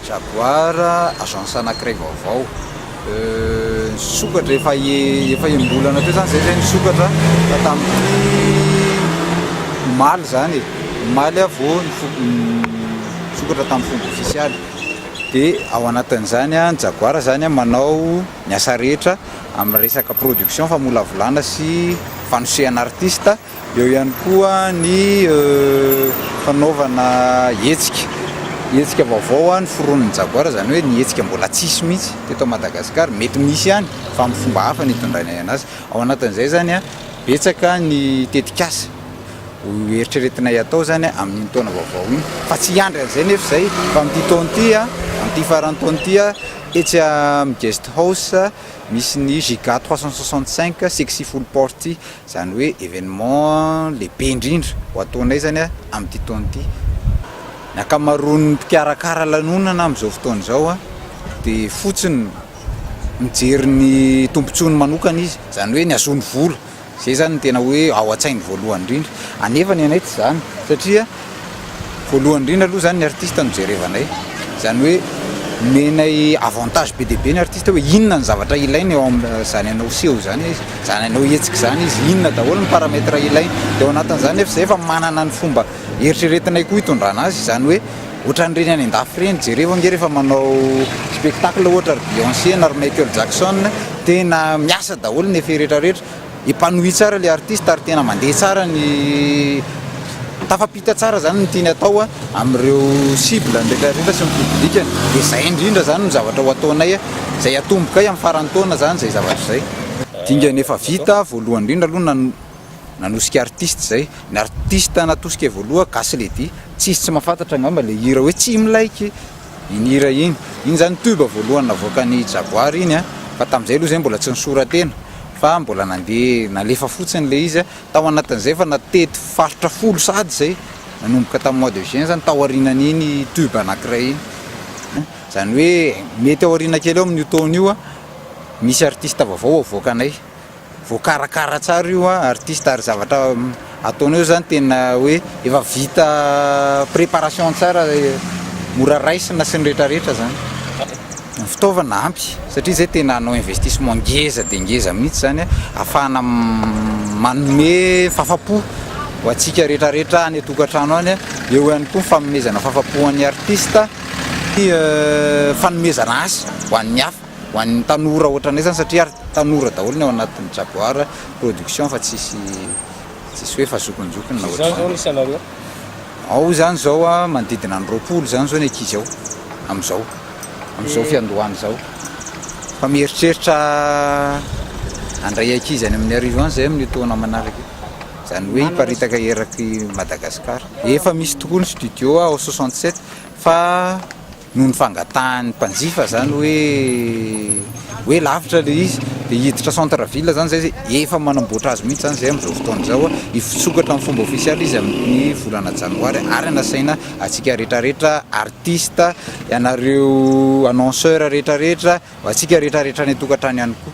Jaguar, agence anankiray vaovao nisokatra efa efa enim-bolana teo zany zay zay nisokatra fa tamin'ity omaly zany e omaly aho vao nisokatra tamin'ny fomba ofisialy dia ao anatin'izany a ny Jaguar zany a manao ny asa rehetra amin'ny resaka production famolavolana sy fanosehana artista Eo ihany koa ny fanaovana hetsika, hetsika vaovao ny foronin'ny Jaguar, izany hoe ny hetsika mbola tsy hisy mihitsy teto Madagasikara, mety misy ihany fa amin'ny fomba hafa ny hitondrana anazy. Ao anatin'izay izany, betsaka ny tetikasa ho eritreretinay atao izany amin'iny taona vaovao iny fa tsy hiandry an'izay nefa izay fa amin'ity taona ity, amin'ity faran'ny taona ity, etsy amin'ny Guest House misy ny Giga trois cent soixante cinq, Sexy Full Party, Izany hoe événement lehibe indrindra ho ataonay izany amin'ity taona ity. Ny ankamaroan'ny mpikarakara lanonana amin'izao fotoana izao dia fotsiny mijery ny tombontsoany manokana izy, izany hoe ny hahazoany vola. Izay izany no tena hoe ao an-tsainy voalohany indrindra. Anefa ny anay tsy izany satria. Voalohany indrindra aloha zany ny artiste no jerevanay, zany hoe omenay avantage be dia be ny artiste hoe inona ny zavatra ilainy eo amin'izany anao hiseho izany izy, izany anao hihetsika izany izy, inona daholo ny paramètre ilainy. Dia ao anatin'izany nefa izay efa manana ny fomba eritreretinay koa hitondrana azy, izany hoe ohatran'ireny any an-dafy ireny, jereo ange rehefa manao spectacle ohatra ry Beyonce na ry Michael Jackson, tena miasa daholo ny effet rehetra rehetra. Épanoui tsara le artiste ary tena mandeha tsara ny tafampita tsara zany ny tiany atao amin'ireo cible-ny rehetra rehetra sy ny public-ny dia zay indrindra zany no zavatra ho ataonay zay atombokay amin'ny faran'ny taona zany zay zavatra zay. Dingana efa vita voalohany indrindra aloha nan nanosika artiste zay, ny artiste natosika voaloha gasy lady, tsisy tsy mahafantatra angamba le hira hoe tsy milaiky. Iny hira iny, iny zany tube voalohany navoakan'i Jaguar iny a, fa tamin'izay aloha zay mbola tsy nisora-tena fa mbola nandeha nalefa fotsiny le izy a, tao anatin'izay efa natety faritra folo sahady zay, nanomboka tamin'ny mois de juin zany, tao aorianan'iny tube anakiray iny, zany hoe mety ao aoriana kely ao amin'io taona io a, misy artiste vaovao havoakanay. voakarakara tsara io an artiste ary zavatra ataonao zany tena hoe efa vita préparation tsara mora raisina sy ny retraretra zany ny fitaovana ampy satria zay tena hanao investissement ngeza dia ngeza mihitsy zany afahana manome fafapo ho antsika retraretra any atokantrano any eo ihany koa fanomezana fafapo an'ny artiste fanomezana asa ho an'ny hafa Ho an'ny tanora ohatranay zany satria ary tanora daholo ny ao anatin'ny Jaguar production fa tsisy tsisy hoe efa zokinjokiny na ohatran'izany. Zany zao ny isanareo? Ao zany zao a manodidina ny roapolo zany zao ny ankizy ao amizao amizao fiandohana izao fa mieritreritra handray ankizy any amin'ny arivo any zahay amin'io taona manaraka io zany hoe hiparitaka eraky Madagascar efa misy tokoa ny studio ao soixante sept fa noho ny fangatahan'ny mpanjifa zany hoe hoe lavitra le izy de hiditra centre ville zany zay efa manamboatra azy mihitsy zany zay amizao fotoana izao hoe hifitsokatra amin'ny fomba ofisialy izy amin'ny volana janoary ary anasaina antsika retraretra artiste ianareo annonceur retraretra antsika retraretra any an-tokantrano ihany koa